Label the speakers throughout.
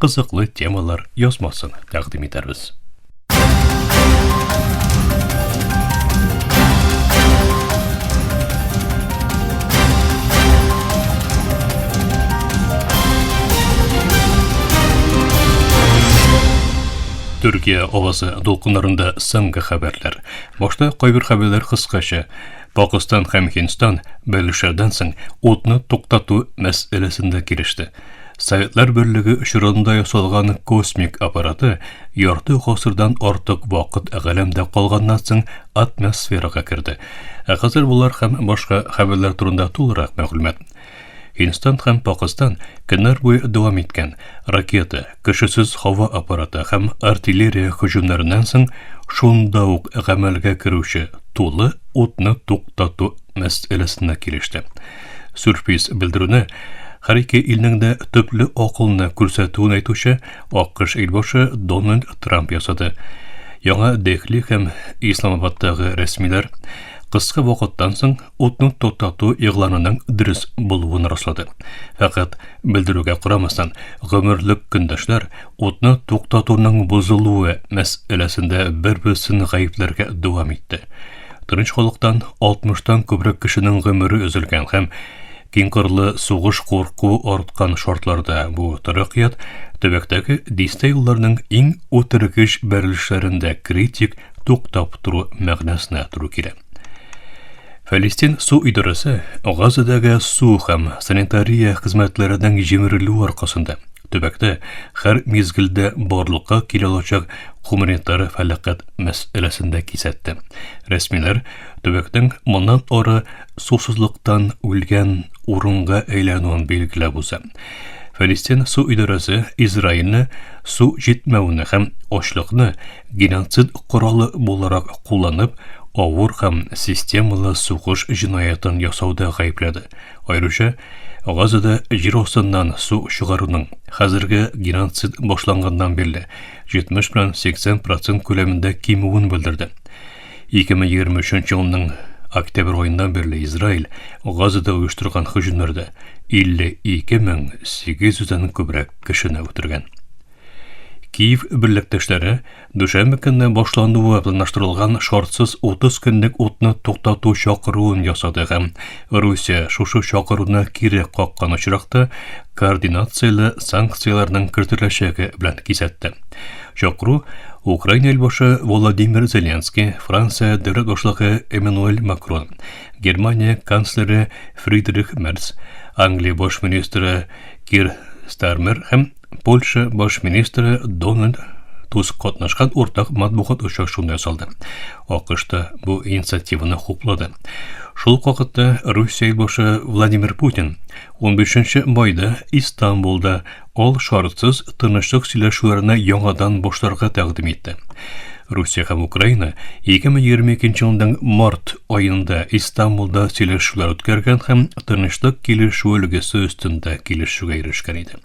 Speaker 1: кызыклы темалар язмасын тәкъдим итәрбез. Төркия авазы дулкынларында соңгы хәбәрләр. Башта кайбер хәбәрләр кыскача. Пакистан һәм Һиндстан бәлешәрдән соң утны туктату мәсьәләсендә килеште. Советлар Берлеге очрагында ясалган космик аппараты ярты гасырдан артык вакыт галәмдә калганнан соң атмосферага керде. Ә хәзер болар һәм башка хәбәрләр турында тулырак мәгълүмат. Һиндстан һәм Пакистан көннәр буе дәвам иткән ракета, кешесез һава аппараты һәм артиллерия һөҗүмнәреннән соң шунда ук гамәлгә керүче тулы утны туктату мәсьәләсенә килеште. Сюрприз белдерүне һәр ике илнең дә төпле акылны күрсәтүен әйтүче АКШ илбашы Дональд Трамп ясады. Яңа Дехли һәм Исламабадтагы рәсмиләр кыска вакыттан соң утны туктату игъланының дөрес булуын раслады. Фәкать белдерүгә карамастан, гомерлек көндәшләр утны туктатуның бозылуы мәсьәләсендә бер-берсен гаепләргә дәвам итте. Тыныч халыктан 60-тан күбрәк кешенең гомере өзелгән һәм киңкырлы сугыш курку арткан шартларда бу таракият төбәктәге дистә елларның иң үтергеч бәрелешләрендә критик туктап тору мәгънәсенә туры килә. Фәлестин су идарәсе Газадагы су һәм санитария хезмәтләренең җимерелүе аркасында Төбәктә һәр мизгелдә барлыкка килә алачак гуманитар фәлакәт мәсьәләсен дә кисәтте. Рәсмиләр төбәкнең моннан ары сусызлыктан үлгән урынга әйләнүен билгеләп уза. Фәлестин су идарәсе Израильне су җитмәвенә һәм ачлыкны геноцид коралы буларак кулланып, авыр һәм системалы сугыш җинаятын ясауда гаепләде. Аеруча Газада җир астыннан су чыгаруның хәзерге геноцид башланганнан бирле 70 белән 80 процент күләмендә кимүен белдерде. 2023 елның октябрь аеннан бирле Израиль Газада оештырган хөҗүмнәрдә 52 мең 800 дән күбрәк кешене үтергән. Киев берлектәшләре Дүшәмбе көнне башлануы планлаштырылган шартсыз 30 көнлек утны туктату чакыруын ясады һәм Русия шушы чакыруны кире каккан очракта координацияле санкцияләрнең кертеләчәге белән кисәтте. Чакыру Украина илбашы Владимир Зеленский, Франция дәүләт башлыгы Эммануэль Макрон, Германия канцлеры Фридрих Мерц, Англия баш министры Кир Стармер һәм Польша баш министры Дональд Туск катнашкан уртак матбугат очрашуында ясалды. АКШ та бу инициативаны хуплады. Шул ук вакытта Русия юлбашы Владимир Путин 15 майда Истанбулда ал шартсыз тынычлык сөйләшүләренә яңадан башларга тәкъдим итте. Русия һәм Украина 2022 елның март аенда Истанбулда сөйләшүләр үткәргән һәм тынычлык килешүе өлгесе өстендә килешүгә ирешкән иде.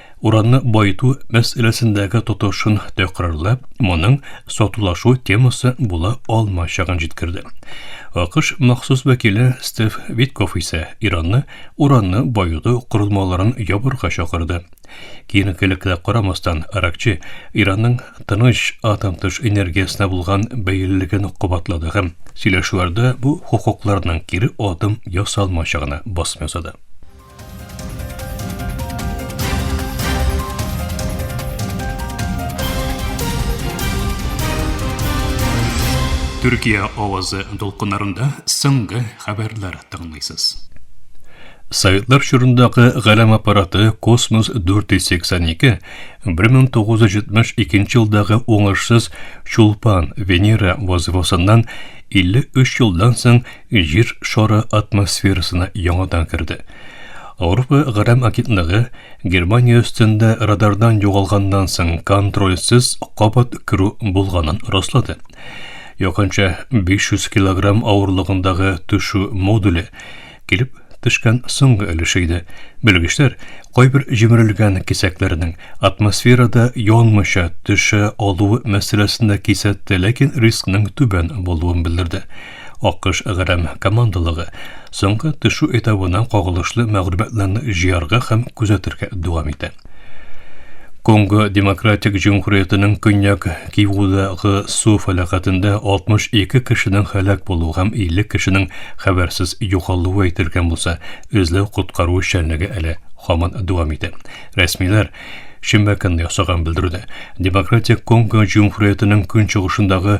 Speaker 1: Урамны баету мәсьәләсендәге тотышын тәкърарлап, моның сатулашу темасы була алмаячагын җиткерде. АКШ махсус вәкиле Стив Витков исә Иранны уранны баету корылмаларын ябырга чакырды. Киенкелеккә карамастан, Аракчи Иранның тыныч атом тыш энергиясенә булган бәйлелеген кабатлады һәм сөйләшүләрдә бу хокукларның кире адым ясалмаячагына басым ясады. Төркия авазы дулкыннарында соңгы хәбәрләр тыңлыйсыз. Советлар чорындагы галәм аппараты Космос 482 1972 елдагы уңышсыз Чулпан Венера вазифасыннан 53 елдан соң Җир шары атмосферасына яңадан керде. Авропа гәрәм агентлыгы Германия өстендә радардан югалганнан соң контрольсез кабат керү булганын раслады. Якынча 500 килограмм авырлыгындагы төшү модуле килеп төшкән соңгы өлеше иде. Белгечләр кайбер җимерелгән кисәкләрнең атмосферада янмыйча төшә алуы мәсьәләсендә кисәтте, ләкин рискның түбән булуын белдерде. Акыш грәм командалыгы соңгы төшү этабына кагылышлы мәгълүматларны җыярга һәм күзәтергә дәвам итә. Конго Демократик Җөмһүриятенең көньяк Кивудагы су фәләкәтендә 62 кешенең һәлак булуы һәм 50 кешенең хәбәрсез югалуы әйтелгән булса, эзләү-коткару эшчәнлеге әле һаман дәвам итә. Рәсмиләр шимбә көнне ясаган белдерүдә Демократик Конго Җөмһүриятенең көнчыгышындагы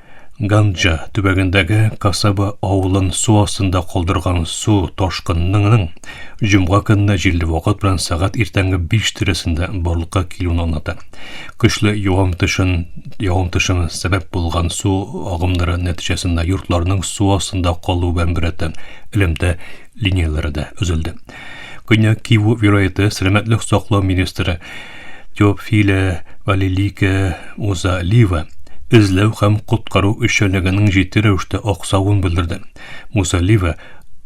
Speaker 1: Ганджа төбәгендәге Касаба авылын су астында калдырган су ташкынының җомга көнне җилле вакыт белән сәгать иртәнге 5 тирәсендә барлыкка килүен аңлата. Көчле явым төшен, явым төшен сәбәп булган су агымнары нәтиҗәсендә йортларның су астында калуы белән беррәттән элемтә линияләре дә өзелде. Көньяк Киву вилаяты сәламәтлек саклау министры Теофиля Валилика Музалива эзләү һәм коткару эшчәнлегенең җитди рәвештә аксавын белдерде. Музалива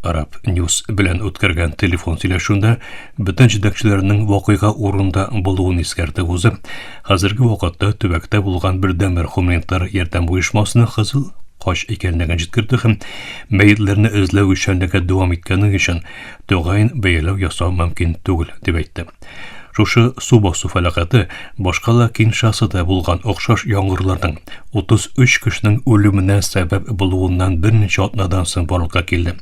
Speaker 1: Араб Ньюс белән үткәргән телефон сөйләшүендә бөтен җитәкчеләрнең вакыйга урында булуын искәртеп узып, хәзерге вакытта төбәктә булган бердәнбер гуманитар ярдәм оешмасына Кызыл Кач икәнлеген җиткерде һәм мәетләрне эзләү эшчәнлеге дәвам иткәне өчен тәгаен бәяләү ясау мөмкин түгел, дип әйтте. Шушы су басу фәләкәте башка да Киншасада булган охшаш яңгырларның 33 кешенең үлеменә сәбәп булуыннан берничә атнадан соң барлыкка килде.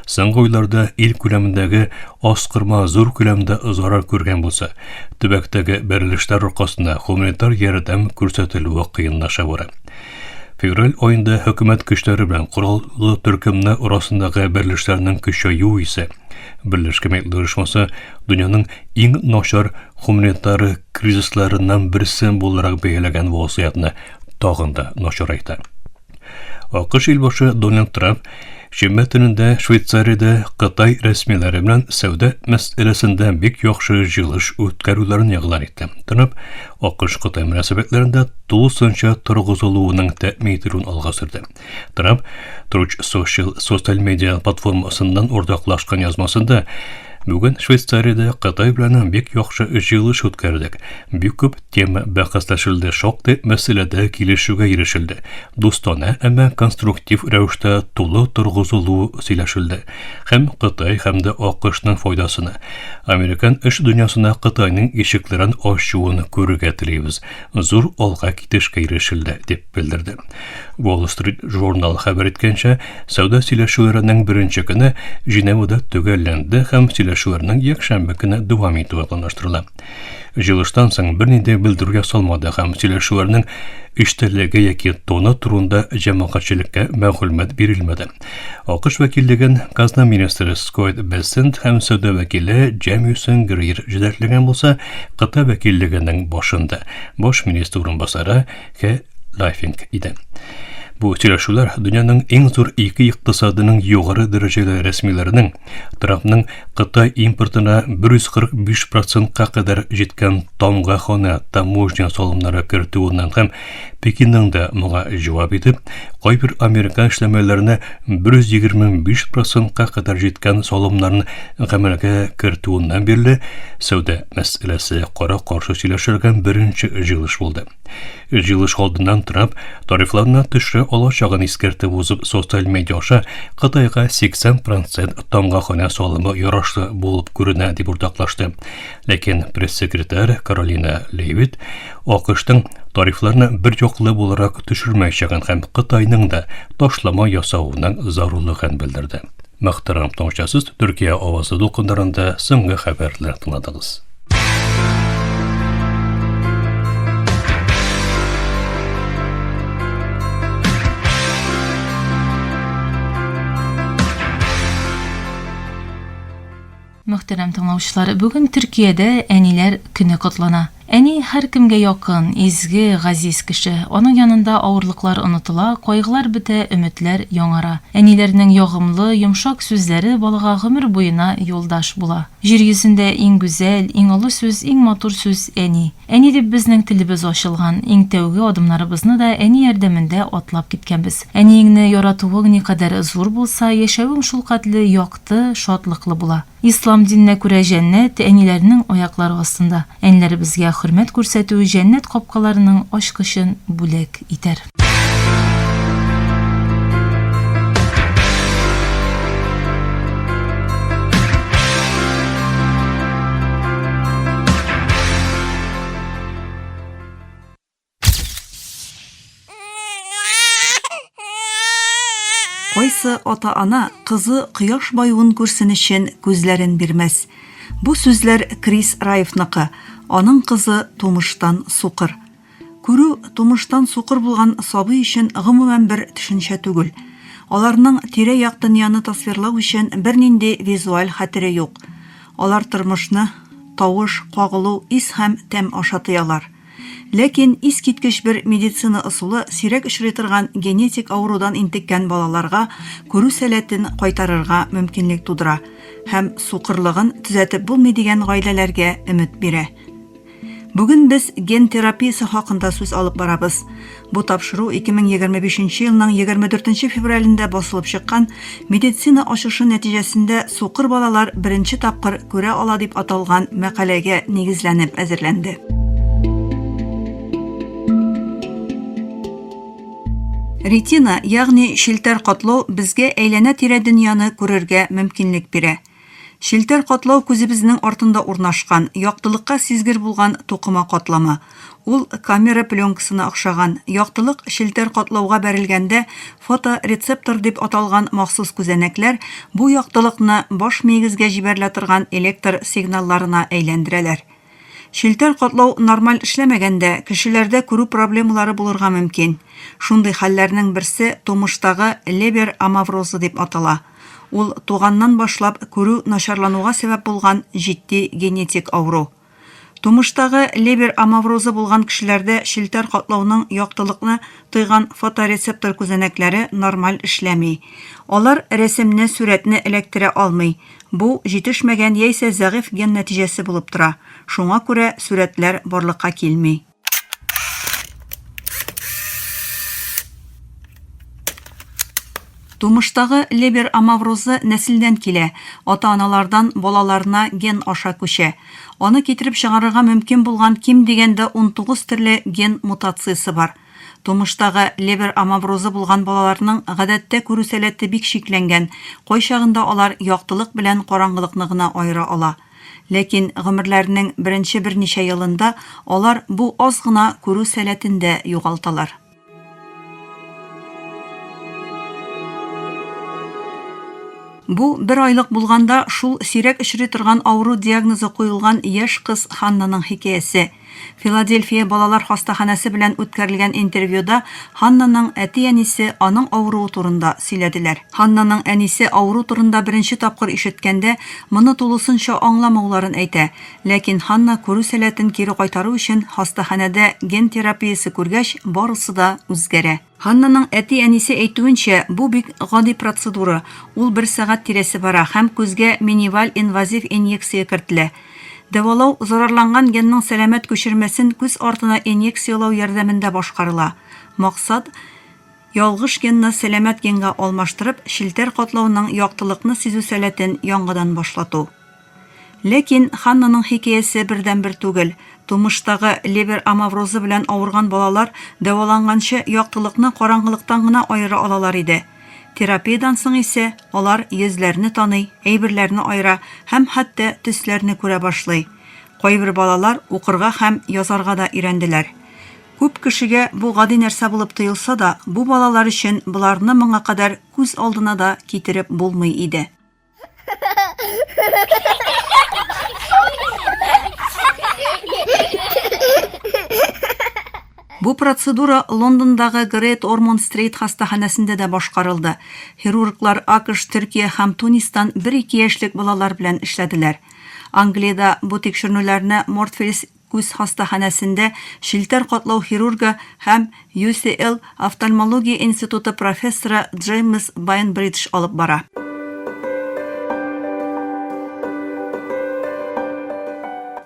Speaker 1: Соңгы уйларда ил күләмендәге аскырма зур күләмдә зарар күргән булса, төбәктәге бәрелешләр аркасында гуманитар ярдәм күрсәтелүе кыенлаша бара. Февраль аенда хөкүмәт көчләре белән кораллы төркемнәр арасындагы берлешләрнең көчәю исә Берләшкән Милләтләр Оешмасы дөньяның иң начар гуманитар кризисларыннан берсе буларак бәяләгән вазгыятьне тагын да начарайта. АКШ илбашы Дональд Трамп Шимбә төнендә Швейцариядә Кытай рәсмиләре белән сәүдә мәсьәләсендә бик яхшы җыелыш үткәрүләрен игълан итте. Трамп АКШ-Кытай мөнәсәбәтләрендә тулысынча торгызылуының тәэмин ителүен алга сөрде. Трамп Truth Social социаль медиа платформасыннан уртаклашкан язмасында Бүген Швейцариядә Кытай белән бик яхшы җыелыш үткәрдек. Бик күп Тема бәхәсләшелде, шактый мәсьәләдә килешүгә ирешелде. Дустана, әмма конструктив рәвештә тулы торгызылу сөйләшелде. Һәм Кытай һәм дә АКШның файдасына. Американ эш дөньясына Кытайның ишекләрен ачуын күрергә телибез. Зур алга китешкә ирешелде, дип белдерде. Wall Street Journal хәбәр иткәнчә, сәүдә сөйләшүләренең беренче көне Женевада төгәлләнде һәм сөйләшүләрнең якшәмбе көне дәвам итүе планлаштырыла. Җылыштан соң берни дә белдерүгә салмады һәм сөйләшүләрнең эчтәлеге яки тоны турында җәмәгатьчелеккә мәгълүмат бирелмәде. АКШ вәкиллеген казна министры Скотт Бессент һәм сәүдә вәкиле Джемисон Грир җитәкләгән булса, Кытай вәкиллегенең башында баш министр урынбасары Хэ Лайфинг иде. Бу сөйләшүләр дөньяның иң зур ике икътисадының югары дәрәҗәле рәсмиләренең Трампның Кытай импортына 145 процентка кадәр җиткән тамга хана таможня салымнары кертүеннән һәм Пекинның да моңа җавап итеп, кайбер американ эшләмәләренә 125 процентка кадәр җиткән салымнарын гамәлгә кертүеннән бирле сәүдә мәсьәләсе кара-каршы сөйләшергән беренче җыелыш булды. Җыелыш алдыннан Трамп тарифларны төшерә алачагын искәртеп узып, социаль медиа аша Кытайга 80 процент тамга ханә салымы ярашлы булып күренә, дип уртаклашты. Ләкин пресс-секретарь Каролина Левит АКШның тарифларны бер яклы буларак төшермәячәген һәм Кытайның да ташлама ясавының зарурлыгын белдерде. Мөхтәрәм тыңлаучысыз, Төркия авазы дулкыннарында соңгы хәбәрләр тыңладыгыз.
Speaker 2: Мөхтәрәм тыңлаучылар, бүген Төркиядә әниләр көне котлана. Әни һәр кемгә якын, изге, газиз кеше. Аның янында авырлыклар онытыла, кайгылар бетә, өметләр яңара. Әниләрнең ягымлы, йомшак сүзләре балага гомер буена юлдаш була. Җир йөзендә иң гүзәл, иң олы сүз, иң матур сүз, Әни. Әни дип безнең телебез ачылган, иң тәүге адымнарыбызны да әни ярдәмендә атлап киткәнбез. Әниеңне яратуың никадәр зур булса, яшәвең шулкадәле якты, шатлыклы була. Ислам диненә күрә җәннәт, әниләрнең аяклары астында. Әниләребезгә хөрмәт күрсәтү җәннәт капкаларының ачкычын бүләк итәр.
Speaker 3: Кайсы ата-ана кызы кояш баюын күрсен өчен күзләрен бирмәс. Бу сүзләр Крис Раевныкы, аның кызы тумыштан сукыр. Күрү тумыштан сукыр булган сабый өчен гомумән бер төшенчә түгел. Аларның тирә-як дөньяны тасвирлау өчен бернинди визуаль хәтере юк. Алар тормышны тавыш, кагылу, ис һәм тәм аша тоялар. Ләкин искиткеч бер медицина ысулы сирәк очрый торган генетик авырудан интеккән балаларга күрү сәләтен кайтарырга мөмкинлек тудыра һәм сукырлыгын төзәтеп булмый дигән гаиләләргә өмет бирә. Бүген без ген терапиясе хакында сүз алып барабыз. Бу тапшыру 2025 елның 24 февралендә басылып чыккан медицина ачышы нәтиҗәсендә сукыр балалар беренче тапкыр күрә ала дип аталган мәкаләгә нигезләнеп әзерләнде. Ретина, ягъни челтәр катлау безгә әйләнә-тирә дөньяны күрергә мөмкинлек бирә. Челтәр катлау күзебезнең артында урнашкан, яктылыкка сизгер булган тукыма катламы. Ул камера пленкасына охшаган. Яктылык челтәр катлауга бәрелгәндә фоторецептор дип аталган махсус күзәнәкләр бу яктылыкны баш миегезгә җибәрелә торган электр сигналларына әйләндерәләр. Челтәр катлау нормаль эшләмәгәндә, кешеләрдә күрү проблемалары булырга мөмкин. Шундый хәлләрнең берсе тумыштагы Лебер амаврозы дип атала. Ул туганнан башлап күрү начарлануга сәбәп булган җитди генетик авыру. Тумыштагы Лебер амаврозы булган кешеләрдә челтәр катлауның яктылыкны тойган фоторецептор күзәнәкләре нормаль эшләми. Алар рәсемне, сурәтне эләктерә алмый, Бу, җитешмәгән яисә зәгыйфь ген нәтиҗәсе булып тора, шуңа күрә сурәтләр барлыкка килми. Тумыштагы лебер амаврозы нәселдән килә, ата-аналардан балаларына ген аша күчә. Аны китереп чыгарырга мөмкин булган ким дигәндә унтугыз төрле ген мутациясе бар. Тумыштагы Лебер амаврозы булган балаларның гадәттә күрү сәләте бик чикләнгән, кайчагында алар яктылык белән караңгылыкны гына аера ала. Ләкин гомерләренең беренче берничә елында алар бу аз гына күрү сәләтен дә югалталар. Бу бер айлык булганда шул сирәк очрый торган авыру диагнозы куелган яшь кыз Ханнаның хикәясе. Филадельфия балалар хастаханәсе белән үткәрелгән интервьюда Ханнаның әти-әнисе аның авыруы турында сөйләделәр. Ханнаның әнисе авыру турында беренче тапкыр ишеткәндә, моны тулысынча аңламауларын әйтә. Ләкин Ханна күрү сәләтен кире кайтару өчен хастаханәдә ген терапиясе күргәч, барысы да үзгәрә. Ханнаның әти-әнисе әйтүенчә, бу бик гади процедура, ул бер сәгать тирәсе бара һәм күзгә миниваль инвазив инъекция кертелә. Дәвалау зарарланган генның сәламәт күчермәсен күз артына инъекциялау ярдәмендә башкарыла. Максат, ялгыш генны сәламәт генга алмаштырып, челтәр катлауның яктылыкны сизү сәләтен яңадан башлату. Ләкин Ханнаның хикәясе бердәнбер түгел. Тумыштагы левер амаврозы белән авырган балалар дәваланганчы яктылыкны караңгылыктан гына аера алалар иде. Терапиядән соң исә алар йөзләрне таный, әйберләрне аера һәм хәтта төсләрне күрә башлый. Кайбер балалар укырга һәм язарга да өйрәнделәр. Күп кешегә бу гади нәрсә булып тоелса да, бу балалар өчен боларны моңа кадәр күз алдына да китереп булмый иде. Бу процедура Лондондагы Грейт Ормон Стрейт хастаханәсендә дә башкарылды. Хирурглар АКШ, Төркия һәм Тунистан бер-ике яшьлек балалар белән эшләделәр. Англиядә бу тикшеренүләрне Мортфельс Күз хастаханәсендә челтәр катлау хирургы һәм UCL офтальмология институты профессоры Джеймс Байнбридж алып бара.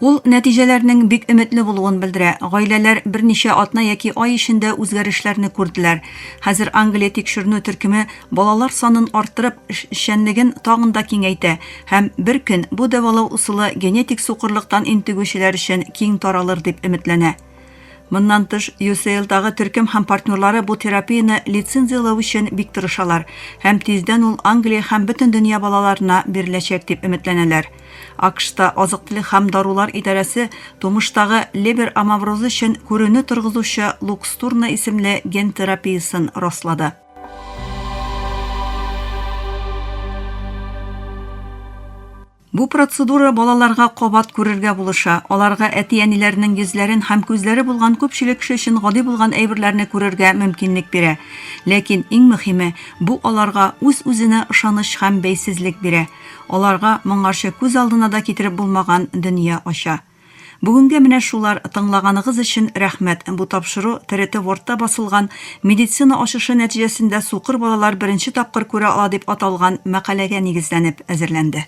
Speaker 3: Ул нәтиҗәләрнең бик өметле булуын белдерә. Гаиләләр берничә атна яки ай эчендә үзгәрешләрне күрделәр. Хәзер Англия тикшеренү төркеме балалар санын арттырып, эшчәнлеген тагын да киңәйтә һәм бер көн бу дәвалау усылы генетик сукырлыктан интегүчеләр өчен киң таралыр дип өметләнә. Моннан тыш, UCL-дагы төркем һәм партнерлары бу терапияне лицензияләү өчен бик тырышалар һәм тиздән ул Англия һәм бөтен дөнья балаларына биреләчәк дип өметләнәләр. АКШта азык-төлек һәм дарулар идарәсе тумыштагы лебер амаврозы өчен күрүне торгызучы Лукстурна исемле ген терапиясен раслады. Бу процедура балаларга кабат күрергә булыша. Аларга әти-әниләренең йөзләрен һәм күзләре булган күпчелек кеше өчен гади булган әйберләрне күрергә мөмкинлек бирә. Ләкин иң мөһиме, бу аларга үз-үзенә ышаныч һәм бәйсезлек бирә. Аларга моңарчы күз алдына да китереп булмаган дөнья ача. Бүгенгә менә шулар, тыңлаганыгыз өчен рәхмәт. Бу тапшыру ТРТ Вордта басылган Медицина ачышы нәтиҗәсендә сукыр балалар беренче тапкыр күрә ала дип аталган мәкаләгә нигезләнеп әзерләнде.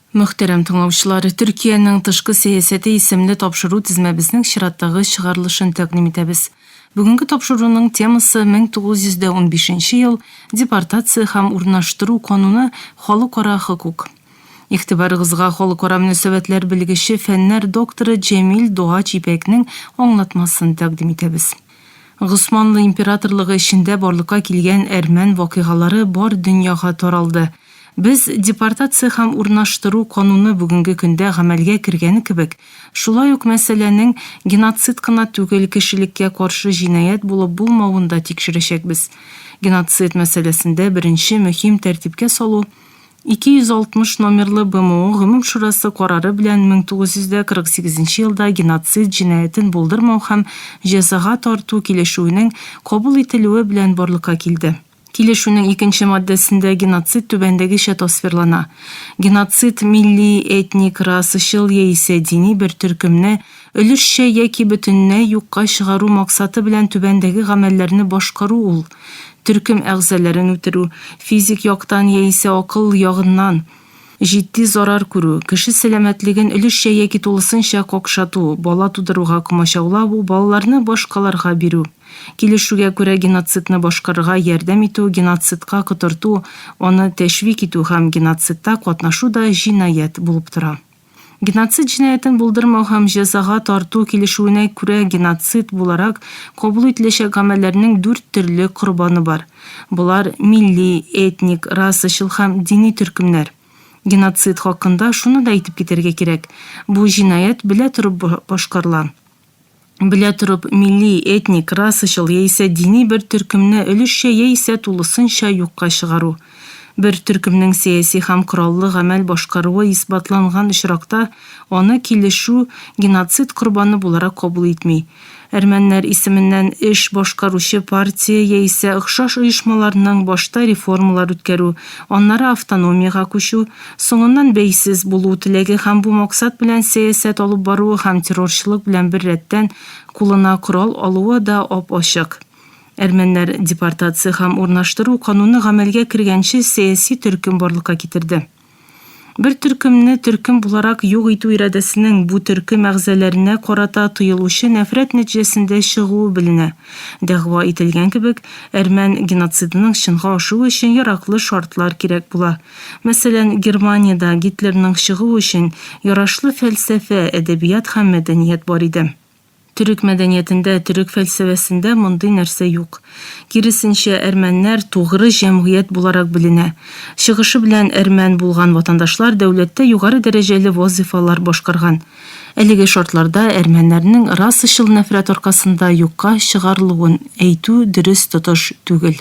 Speaker 2: Мөхтәрәм тыңлаучылар, Төркиянең тышкы сәясәте исемле тапшыру тезмәбезнең чираттагы чыгарылышын тәкъдим итәбез. Бүгенге тапшыруның темасы 1915 ел Депортация һәм урнаштыру кануны Халыкара хокук. Игътибарыгызга халыкара мөнәсәбәтләр белгече, фәннәр докторы Җәмил Догач Ипәкнең аңлатмасын тәкъдим итәбез. Госманлы императорлыгы эчендә барлыкка килгән әрмән вакыйгалары бар дөньяга таралды. Без депортация һәм урнаштыру кануны бүгенге көндә гамәлгә кергәне кебек, шулай ук мәсьәләнең геноцид кына түгел, кешелеккә каршы җинаять булып булмавын да тикшерәчәкбез. Геноцид мәсьәләсендә беренче мөһим тәртипкә салу, 260 номерлы БМО Гомум шурасы карары белән 1948 елда геноцид җинаятен булдырмау һәм җәзага тарту килешүенең кабул ителүе белән барлыкка килде. Килешүнең икенче маддәсендә геноцид түбәндәгечә тасвирлана, Геноцид милли, этник, расачыл яисә дини бер төркемне, өлешчә яки бөтенләй юкка чыгару максаты белән түбәндәге гамәлләрне башкару ул, төркем әгъзаләрен үтерү, физик яктан яисә акыл ягыннан җитди зарар күрү, кеше сәламәтлеген өлешчә яки тулысынча какшату, бала тудыруга комачаулау, балаларны башкаларга бирү, килешүгә күрә геноцидны башкарырга ярдәм итү, геноцидка котырту, аны тәшвик итү һәм геноцидта катнашу да җинаять булып тора. Геноцид җинаятен булдырмау һәм җәзага тарту килешүенә күрә геноцид буларак кабул ителәчәк гамәлләрнең дүрт төрле корбаны бар. Болар, милли, этник, расачыл һәм дини төркемнәр. Геноцид хакында шуны да әйтеп китәргә кирәк, бу җинаять белә торып башкарыла. белә торып, милли, этник, расачыл яисә дини бер төркемне өлешчә яисә тулысынча юкка чыгару. Бер төркемнең сәяси һәм кораллы гамәл башкаруы исбатланган очракта, аны килешү геноцид корбаны буларак кабул итми. Әрмәннәр исеменнән эш башкаручы партия яисә охшаш оешмаларның башта реформалар үткәрү, аннары автономиягә күчү, Соңыннан бәйсез булу теләге һәм бу максат белән сәясәт алып баруы һәм террорчылык белән бер рәттән кулына корал алуы да ап-ачык. Әрмәннәр депортация һәм урнаштыру кануны гамәлгә кергәнче сәяси төркем барлыкка китерде. Бер төркемне төркем буларак юк итү ирадәсенең бу төркем әгъзаләренә карата тоелучы нәфрәт нәтиҗәсендә чыгуы беленә. Дәгъва ителгән кебек, әрмән геноцидының чынга ашуы өчен яраклы шартлар кирәк була. Мәсәлән, Германиядә Гитлерның чыгуы өчен ярашлы фәлсәфә, әдәбият һәм мәдәният бар иде. Төрек мәдәниятендә, төрек фәлсәфәсендә мондый нәрсә юк. Киресенчә, әрмәннәр тугры җәмгыять буларак беленә. Чыгышы белән әрмән булган ватандашлар дәүләттә югары дәрәҗәле вазыйфалар башкарган. Әлеге шартларда әрмәннәрнең расачыл нәфрәт аркасында юкка чыгарылуын әйтү дөрес тотыш түгел.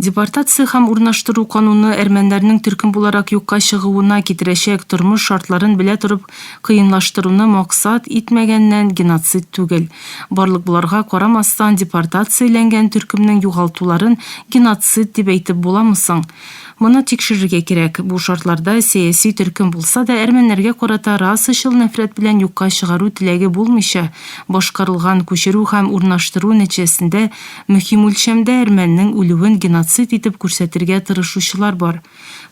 Speaker 2: Депортация һәм урнаштыру кануны әрмәннәрнең төркем буларак юкка чыгуына китерәчәк тормыш шартларын белә торып кыенлаштыруны максат итмәгәннән геноцид түгел. Барлык боларга карамастан депортацияләнгән төркемнең югалтуларын геноцид дип әйтеп буламы соң? Моны тикшерергә кирәк. Бу шартларда сәяси төркем булса да, әрмәннәргә карата расачыл нәфрәт белән юкка чыгару теләге булмыйча, башкарылган күчерү һәм урнаштыру нәтиҗәсендә мөһим үлчәмдә әрмәннең үлүен геноцид итеп күрсәтергә тырышучылар бар.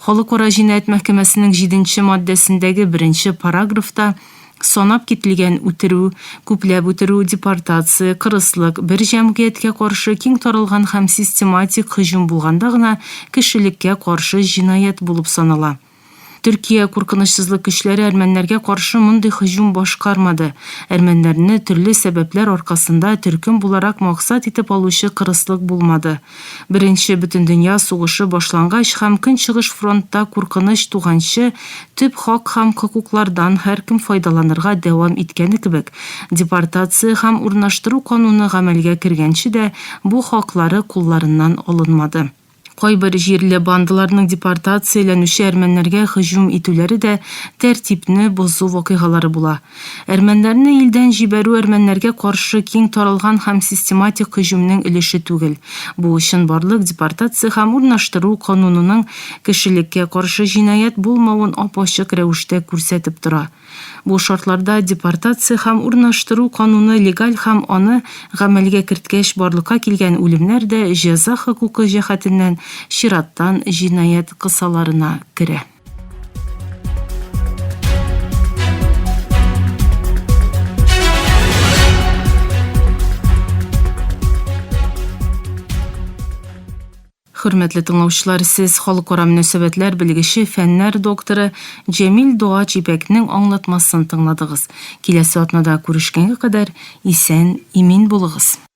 Speaker 2: Халыкара җинаять мәхкәмәсенең җиденче маддәсендәге беренче параграфта, Санап кителгән үтерү, күпләп үтерү, депортация, кырыслык, бер җәмгыятькә каршы киң таралган һәм систематик һөҗүм булганда гына кешелеккә каршы җинаять булып санала. Төркия куркынычсызлык көчләре әрмәннәргә каршы мондый һөҗүм башкармады, әрмәннәрне төрле сәбәпләр аркасында төркем буларак максат итеп алучы кырыслык булмады, Беренче бөтендөнья сугышы башлангач һәм Көнчыгыш фронтта куркыныч туганчы, төп хак һәм хокуклардан һәркем файдаланырга дәвам иткәне кебек, депортация һәм урнаштыру кануны гамәлгә кергәнче дә бу хаклары кулларыннан алынмады. Кайбер җирле бандаларның депортацияләнүче әрмәннәргә һөҗүм итүләре дә тәртипне бозу вакыйгалары була. Әрмәннәрне илдән җибәрү әрмәннәргә каршы киң таралган һәм систематик һөҗүмнең өлеше түгел. Бу чынбарлык депортация һәм урнаштыру канунының кешелеккә каршы җинаять булмавын ап-ачык рәвештә күрсәтеп тора. Бу шартларда депортация һәм урнаштыру кануны легаль һәм аны гамәлгә керткәч барлыкка килгән үлемнәр дә җәза хокукы җәһәтеннән чираттан җинаять кысаларына керә. Хөрмәтле тыңлаучылар, сез халыкара мөнәсәбәтләр белгече, фәннәр докторы Җәмил Дуа Чипәкнең аңлатмасын тыңладыгыз. Киләсе атнада күрешкәнгә кадәр исән, имин булыгыз.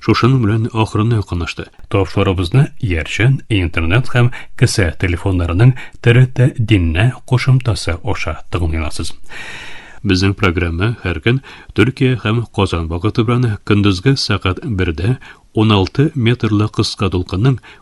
Speaker 1: Шушының белән ахырына якынлашты. Тапшырыбызны иярчән интернет һәм кесә телефоннарының ТРТ диннә кушымтасы аша тыңлыйласыз. Безнең программа һәр көн Төркия һәм Казан вакыты белән көндезге сәгать 1-дә 16 метрлы кыска дулкынның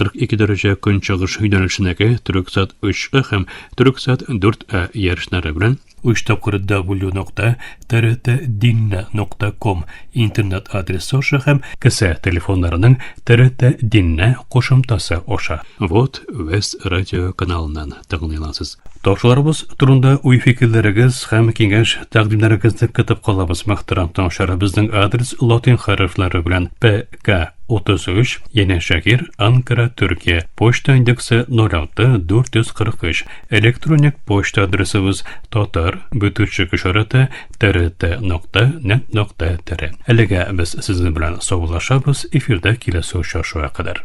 Speaker 1: 42 дәрәҗә көнчыгыш юнәлешенәге Төрексат 3А һәм Төрексат 4А ярышлары белән 3 тапкыр w.trt.dinna.com интернет адресы аша һәм кесә телефоннарының TRT Dinna кушымтасы аша. Вот Вест радио каналыннан. тәкъдим итәсез. Ташуларыбыз турында уй-фикерләрегез һәм киңәш тәкъдимнәрегезне көтеп калабыз. Мөхтәрәм тыңлаучылар, безнең адрес латин хәрефләре белән ПК 33, Яне Шакир, Анкара, Төркия. Почта индексы 06 443. Электроник почта адресыбыз татар бөтүчек ишараты трт нокта нет нокта тире. Әлегә без сезнең белән саулашабыз, эфирда киләсе очрашуга кадәр.